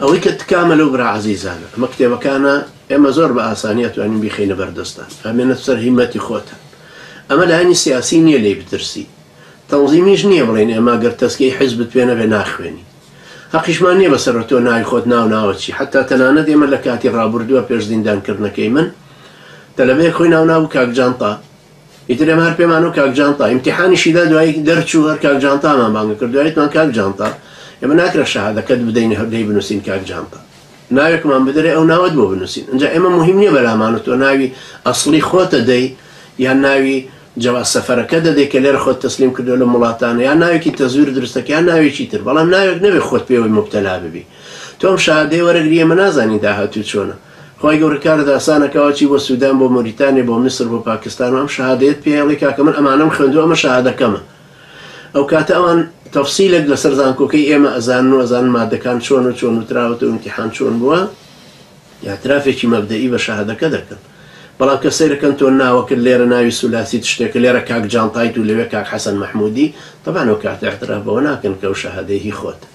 ئەوەی کە تکامە لەو برا عەزیزانە، ئەمە کتێبەکانە ئێمە زۆر بە ئاسانی ئەتوانین بیخەینە بەر دەستتان، ئەمێنە سەر هیمەتی خۆتان. ئەمە لایەنی سیاسی نییە لێی بترسی. تەنزیمیش نییە بڵێین ئێمە گەر تەزکیەی حیزبت پێ نەبێ ناخوێنین. هەقیشمان نییە بە سەر تۆ ناوی خۆت ناو ناوت چی. حەتتا تەنانەت ئێمە لە کاتی ڕابوردووە پێش زیندانکردنەکەی من، تەلەبەیەک خۆی ناو نابوو کاک جانتا. ئیتر ئێمە هەر پێمانەوە کاک جانتا ئیمتیحانیشی دا دوایی دەرچوو هەر کاک جانتامان بانگە کرد دوایتمان کاک جانتا ئێمە ناکرە شەهادەکەت بدەین هەردەی بنووسین کاک جانتا ناوێکمان بدرێ ئەو ناوەت بۆ بنووسین ئەجا ئێمە مهم نییە بەلامان و تۆ ناوی ئەسڵی خۆتە دەی یان ناوی جەوا سەفەرەکە دەدەی کە لێرە خۆت تەسلیم کردو لە وڵاتانە یا ناوێکی تەزویر درستەکە یا ناوێکی تر بەڵام ناوێک نەوێ خۆت پێوەی مبتەلا ببی تۆم شادەی وەرەگری ئێمە نازانین داهاتوو چۆنە خوای گەورە کارت ئاسانە کە ئەچی بۆ سودان بۆ موریتانیە بۆ میسر بۆ پاکستان و ئەم شەهادەیەت پێ ئەڵێی کاکە من ئەمانەم خوێندوە ئەمە شەهادەکەمە ئەوکاتە ئەوان تەفسیلێک لەسەر زانکۆکەی ئێمە ئەزانن و ئەزانن مادەکان چۆن و چۆن وتراوەتە و ئیمتیحان چۆن بووە ئیعترافێکی مەبدەئی بە شەهادەکە دەکەن بەڵام کە سەیرەکەن تۆ ناوەکرد لێرە ناوی سولاسیت شتێکە لێرە کاک جانتایت و لەوێ کاک حەسەن مەحمودی تەبان ئەوکاتە ئیعتراف بەوە ناکەن کە ئەو شەهادەی هی خۆتە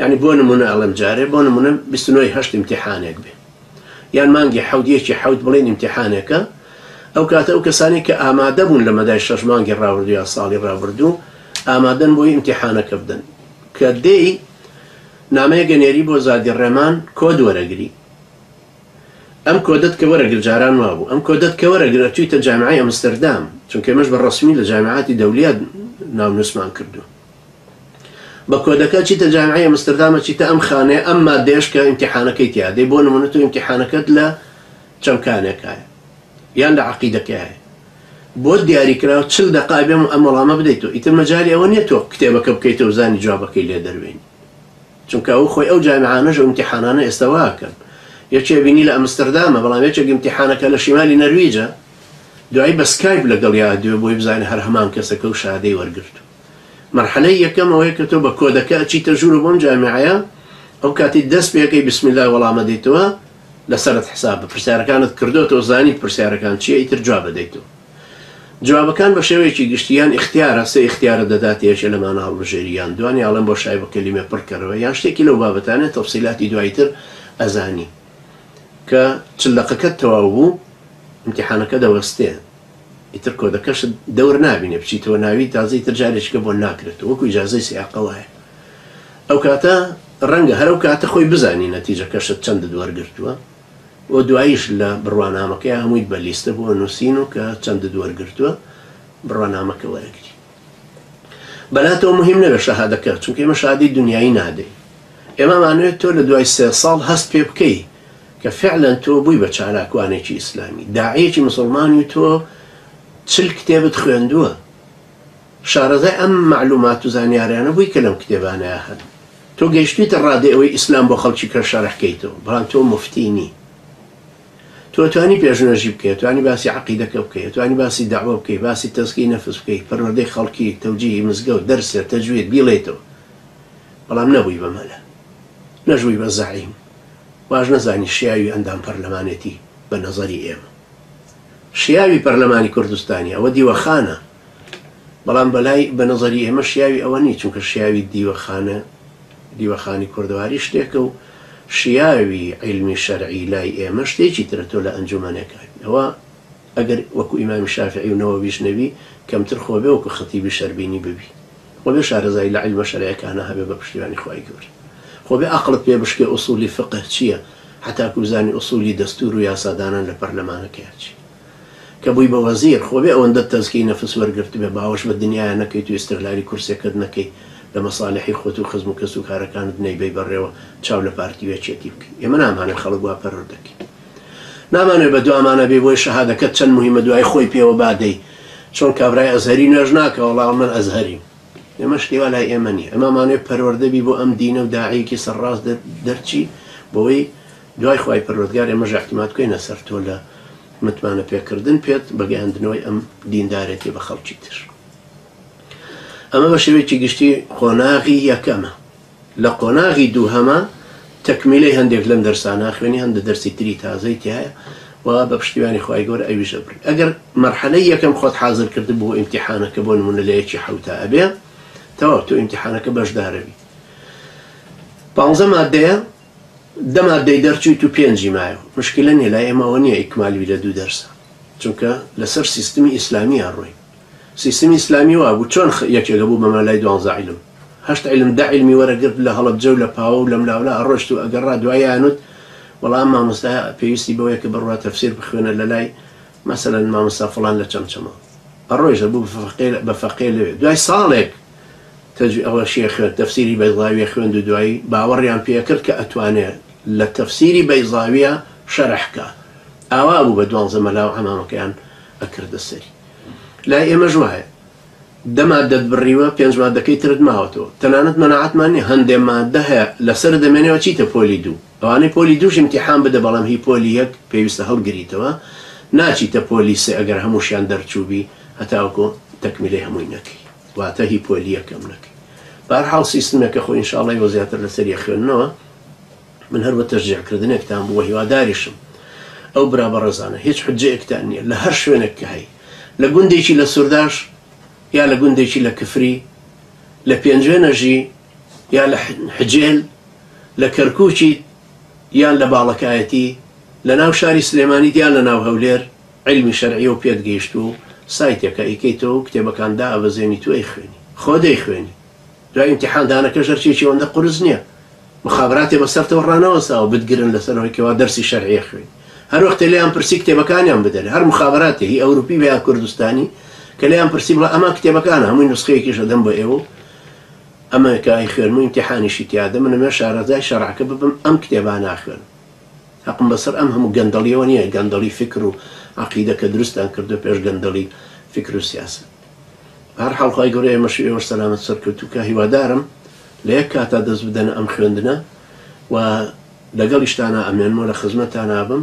یانی بۆ نمونە ئەڵێم جارێ بۆ نمونە بیست و نۆ ی هەشت ئیمتیحانێک بێ یان مانگی حەوت یەکی حەوت بڵێن ئیمتیحانێکە ئەو کاتە ئەو کەسانی کە ئامادە بوون لە مەدای شەش مانگی ڕاوردو یان ساڵی ڕابردوو ئامادەن بۆی ئیمتیحانەکە بدەن کە دێی نامەیە گەنێری بۆ زادی ڕێمان کۆد وەرەگری ئەم کۆدەت کە وەرەگر جاران وابوو ئەم کۆدەت کە وەرەگر ئەتویتە جامعی ئەمستردام چونکە مەش بە ڕسمی لە جامعاتی دەولیات ناونووسمان کردو بە کۆدەکە چیتە جامعەی ئەمستردامە چیتە ئەم خانەیە ئەم مادەیەش کە ئیمتیحانەکەی تیا دەی بۆ نمونە تۆ ئیمتیحانەکەت لە چەمکانێکایە یان لە عقیدەکەیە بۆ دیاری کراوە چل دقای بێم ئەم وەڵامە بدەیت و ئیتر مەجاری ئەوە نییە تۆ کتێبەکە بکەیتە و زانی جوابەکەی لێ دەروێن چونکە ئەو خۆی ئەو جامعانەش و ئیمتیحانانە ئێستا واکەن یەکێ بینی لە ئەمستردامە بەڵام یەکێک ئیمتیحانەکە لە شیمالی نەرویجە دوایی بە سکایپ لەگەڵ یا دوێ بۆی بزانێ هەر هەمان کەسەکە و شادەی وەرگرتو مەرحەلەی یەکەم ئەوەیە کە تۆ بە کۆدەکە ئەچیتە ژوورو بەم جامیعەیە ئەو کاتی دەست پێکەی بسم اللە وەڵام ئەدەیتەوە لەسەرت حسابە پرسیارەکانت کردۆتەوە زانیت پرسیارەکان چیە ئیتر جواب ئەدەیتەوە جوابەکان بە شێوەیەکی گشتی یان ئیختیارە سێ ئیختیارت دەدات یەکێ لەمانە هەڵبژێری یان دوانی ئەڵێن بۆشای بە کەلیمە پڕ کەرەوە یان شتێکی لەو بابەتانە تەفسیلاتی دوای تر ئەزانی کە چل دەقەکەت تەواو بوو ئیمتیحانەکە دەوەستێ ئیتر کۆدەکەشت دەور نابینێ بچیتەوە ناوی تازە ئیتر جارێکیکە بۆن ناکرێتەوە وەکو ئیجازەی سیاقە وایە ئەو کاتە ڕەنگە هەر ئەو کاتە خۆی بزانی نەتیجەکەشت چەندت وەرگرتووە و دواییش لە بڕوانامەکەیا هەموویت بە لیستە بۆ نووسین و کە چەندت وەرگرتووە بڕوانامەکە وەرەگری. بەلاتەوە مهیم نەبێت شەهادەکە چونکە ئێمە شەهادەی دنیایی نادەین ئێمە مانوێت تۆ لە دوای سێ ساڵ هەست پێ بکەی کە فعلەن تۆ بووی بە چالاکوانێکی ئیسلامی داعیەکی مسلمانی و تۆ چل کتێبت خوێندووە شارەزای ئەم معلومات و زانیاریانە بووی کە لەم کتێبانەیە هەن تۆ گەیشتویتە ڕادێ ئەوەی ئیسلام بۆ خەڵکی کە شەرحکەیتەوە بەڵام تۆ مفتینی تۆ توانی پێشنوێژی بکەی، توانی باسی عەقیدەکە بکەی، توانی باسی دەعوە بکەی، باسی تەزکیەی نەفس بکەی، پەروەردەی خەڵکی، تەوجیهی مزگەوت، دەرس، تەجوید، بیڵێیتەوە. بەڵام نەبووی بە مەلا. نەشبووی بە زەعیم. واش نەزانی شیاوی ئەندام پەرلەمانێتی بە نەزەری ئێمە. شیاوی پەرلەمانی کوردستانی ئەوە دیوەخانە. بەڵام بەلای بە نەزەری ئێمە شیاوی ئەوە نی چونکە شیاوی دیوەخانە دیوەخانی کوردەواری شتێکە و شیاوی عیلمی شەرعی لای ئێمە شتێکی ترە تۆ لە ئەنجومەنێکا ئەوە ئەگەر وەکو ئیمامی شافعی و نەوەویش نەبی کەمتر خۆ بێ وەکو خەتیبی شەربینی ببی خۆ بێ شارەزایی لە عیلمە شەرعیەکانا هەبێ بە پشتیوانی خوای گەورە خۆ بێ ئەقڵت پێ بشکێ ئوسولی فقه چیە هەتاکو بزانی ئوسولی دەستور و یاسادانان لە پەرلەمانەکەیان چیە کە بووی بە وەزیر خۆ بێ ئەوەندەت تەزکیەی نەفس وەرگرتبێ باوەش بە دنیایە نەکەیت و ئیستغلالی کورسێکەت نەکەی لە مەسالحی خۆت و خزم و کەس و کارەکانت نەیبەی بەڕێوە چاو لە پارتی و یەکێتی بکەی ئێمە نامانەوێ خەڵک وا پەرۆر دەکەی نامانەوێ بە دوامانە بێ بۆیە شەهادەکەت چەند موهیمە دوای خۆی پێوە بادەی چۆن کابرای ئەزهەری نوێژ ناکە وەڵا من ئەزهەریم ئێمە شتی وا لای ئێمە نیە ئەمامانەوێ پەروەردە بی بۆ ئەم دینە و داعیەکی سەر ڕاست دەرچی بۆوەی دوای خوای پەروەردگار ئێمەش اعتماد بکەینە سەر تۆ لە متمانە پێکردن پێت بە گەیاندنەوەی ئەم دیندارێتی بە خەڵکی تر ئەمە بە شێوەیەکی گشتی قۆناغی یەکەمە لە قۆناغی دووهەمە تەکمیلەی هەندێک لەم دەرسانە خوێنی هەندە دەرسی تری تازەی تایە و بە پشتیوانی خی گەۆر ئەویش ئەبر ئەگەر مەرحەلەی یەکەم خۆت حاضر کرد بۆ ئیمتحانەکە بۆ نمونە لە یەکی حوتا ئەبێ تەواو تۆ ئیمتحانەکە بەشدارەوی پانزە مادەیە دە مادەی دەرچویت و پێنجی مایەوە مشکلە نیە لای ئێمە ئەوە نیە ئیکمالی بیرە دوو دەرسە چونکە لەسەر سیستمی ئیسلامی ئەڕۆین سیستمی ئیسلامی وابوو چۆن یەکێک ئەبوو بە مەلای دوانزە عیلم هەشت عیلم دە عیلمی وەرەگرت لە هەڵەبجە و لە پاوە و لەملاولا ئەڕۆشت و ئەگەڕا دوایانوت وەڵا ئەم مامۆستایە پێویستی بەوەیە کە بڕوا تەفسیر بخوێنە لەلای مەسەلەن مامۆستا فڵان لە چەمچەماڵ ئەڕۆیشت ئەبوو بە فەقێ بە فەقێ لەوێ دوای ساڵێک تەجوی ئەوە شیێ خوێند تەفسیری بەیزاویە خوێند و دوایی باوەڕیان پێ کرد کە ئەتوانێ لە تەفسیری بەیزاویە شەرح کا ئاوا بوو بە دوانزە مەلا و عەمامەکەیان ئەکردە سەری لای ئێمەش وایە دە مادەت بڕیوە پێنج مادەکەی ترت ماوەتەوە تەنانەت مەناعەتمان نیە هەندێ مادە هەیە لەسەر دەمێنێەوە چیتە پۆلی دوو ئەوانەی پۆلی دووش ئیمتیحان بدە بەڵام هی پۆلی یەک پێویستە هەڵگریتەوە ناچیتە پۆلی سێ ئەگەر هەمووشیان دەرچووبی هەتاوەکو تەکمیلەی هەمووی نەکەی واتە هی پۆلی یەکەم نەکەی بەهەرحاڵ سیستمێکە خۆ ئینشاڵڵا ئێوە زیاتر لەسەر یە خوێندنەوە من هەر بە تەشجیع کردنێکتان بوو هیواداریشم ئەو برا بەڕێزانە هیچ حجەیەکتان نییە لە هەر شوێنێک کە هەی لە گوندێکی لە سوورداش یا لە گوندێکی لە کفری لە پێنجوێنەژی یا لە حجێل لە کەرکوکیت یان لە باڵەکایەتی، لە ناو شاری سلێمانیت یان لە ناو هەولێر، عیلمی شەرعیە و پێت گەیشتووە و سایتێکە ئەیکەیتەوە و کتێبەکان دائەبەزێنیت و ئەیخوێنی. خۆ دەیخوێنی. دوای ئیمتیحان دانەکەش ئەرکێکی ئەوەندە قورس نیە. موخابراتێ بە سەرتەوە ڕانەوەستاوە بتگرن لە سەر ئەوەی کەوا دەرسی شەرعی ئەخوێنی. هەر وەختێ لێیان پرسی کتێبەکانیان بدەرێ. هەر موخابراتێ، هی ئەوروپی بێ یان کوردستانی، کە لێیان پرسی بڵێ ئەمە کتێبەکانە هەمووی نوسخەیەکیش ئەدەم بۆ ئێوە و. ئەمەریکا ئەیخوێنم و ئیمتیحانیشی تیادە من ئەمەوێ شارەزای شەرعەکە ببم ئەم کتێبانە ئەخوێنم هەقم بەسەر ئەم هەموو گەندەڵیەوە نیە گەندەڵی فیکر و عەقیدە کە دروستیان کردوە پێش گەندەڵی فیکر و سیاسەت بەهەرحاڵ خوای گەورە ئێمەشی ئێوەش سەلامەت سەرکەوتوو کا هیوادارم لە یەک کاتا دەست بدەنە ئەم خوێندنە و لەگەڵیشتانا ئەمێنمەوە لە خزمەتانا بم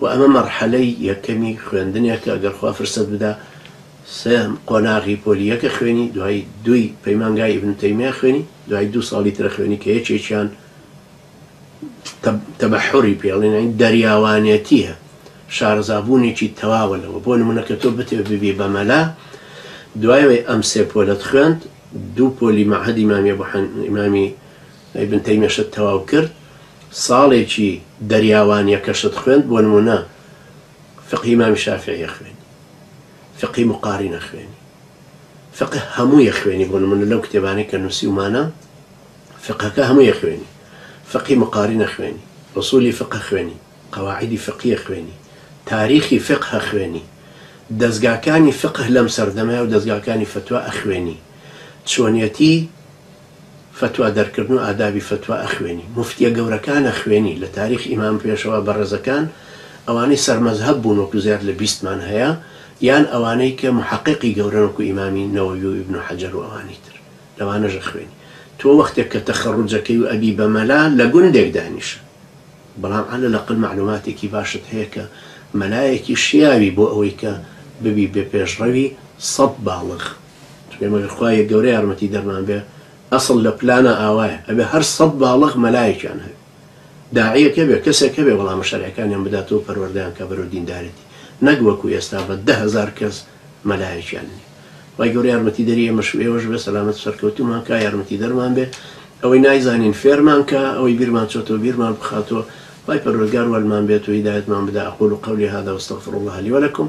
وە ئەمە مەرحەلەی یەکەمی خوێندنێکە گەر خوا فرسەت بدا سێیان قۆناغی پۆلی یەکە خوێنی دوای دووی پەیمانگای ئیبن تەیمیە خوێنی دوای دوو ساڵی ترە خوێنی کە یەکێکیان تەبەحوری پێ ئەڵێن یانی دەریاوانێتیە شارەزابوونێکی تەواوە لەوە بۆ نمونە کە تۆ بتێ ببی بە مەلا دوایەوەی ئەم سێ پۆلەت خوێند دوو پۆلی مەعهەدی مامی ئەبو حەن ئیمامی ئیبن تەیمیەشت تەواو کرد ساڵێکی دەریاوانیەکەشت خوێند بۆ نمونە فقهی مامی شافعی ئەخوێنی فقهی مقارین ئەخوێنی فقه هەمووی ئەخوێنی بۆ نمونە لەو کتێبانەی کە نووسیومانە فقهەکە هەمووی ئەخوێنی فقهی مقارین ئەخوێنی ئوسولی فقه خوێنی قواعدی فقیە خوێنی تاریخی فقه خوێنی دەزگاکانی فقه لەم سەردەمەیە و دەزگاکانی فتوا ئەخوێنی چۆنیەتی فتوا دەرکردن و ئادابی فتوا ئەخوێنی موفتیە گەورەکان ئەخوێنی لە تاریخ ئیمام پێشەوا بەڕێزەکان ئەوانەی سەر مەزهەب بوون وەکو زیاد لە بیستمان هەیە یان ئەوانەی کە محققی گەورەن وەکو ئیمامی نەوەوی و ئیبن حەجەر و ئەوانی تر لەوانەش ئەخوێنی تۆ وەختێک کە تەخەڕوج ئەکەی و ئەبی بە مەلا لە گوندێک دانیشە بەڵام عەلە لەقەل مەعلوماتێکی باشت هەیە کە مەلایەکی شیاوی بۆ ئەوەی کە ببی بە پێشڕەوی سەد باڵغ ئێمە گەر خوایە گەورە یارمەتی دەرمان بێ ئەسڵ لە پلانە ئاوایە ئەبێ هەر سەد باڵەخ مەلایەکیان هەبێ داعیەک هەبێ کەسێک هەبێ وەڵامە شەرعەکانیان بداتەوە پەروەردەیان کە بەرەو دیندارێتی نەک وەکو ئێستا بە دە هەزار کەس مەلایەکیان نیە وای گەورە یارمەتی دەری ئێمەش ئێوەش بێ سەلامەت سەرکەوتومان کا یارمەتی دەرمان بێ ئەوەی نایزانین فێرمان کە ئەوەی بیرمان چۆتەوە بیرمان بخاتەوە وای پەروەردگار وەلمان بێت و هیدایەتمان بدا اقول قولي هذا واستغفر الله لي ولكم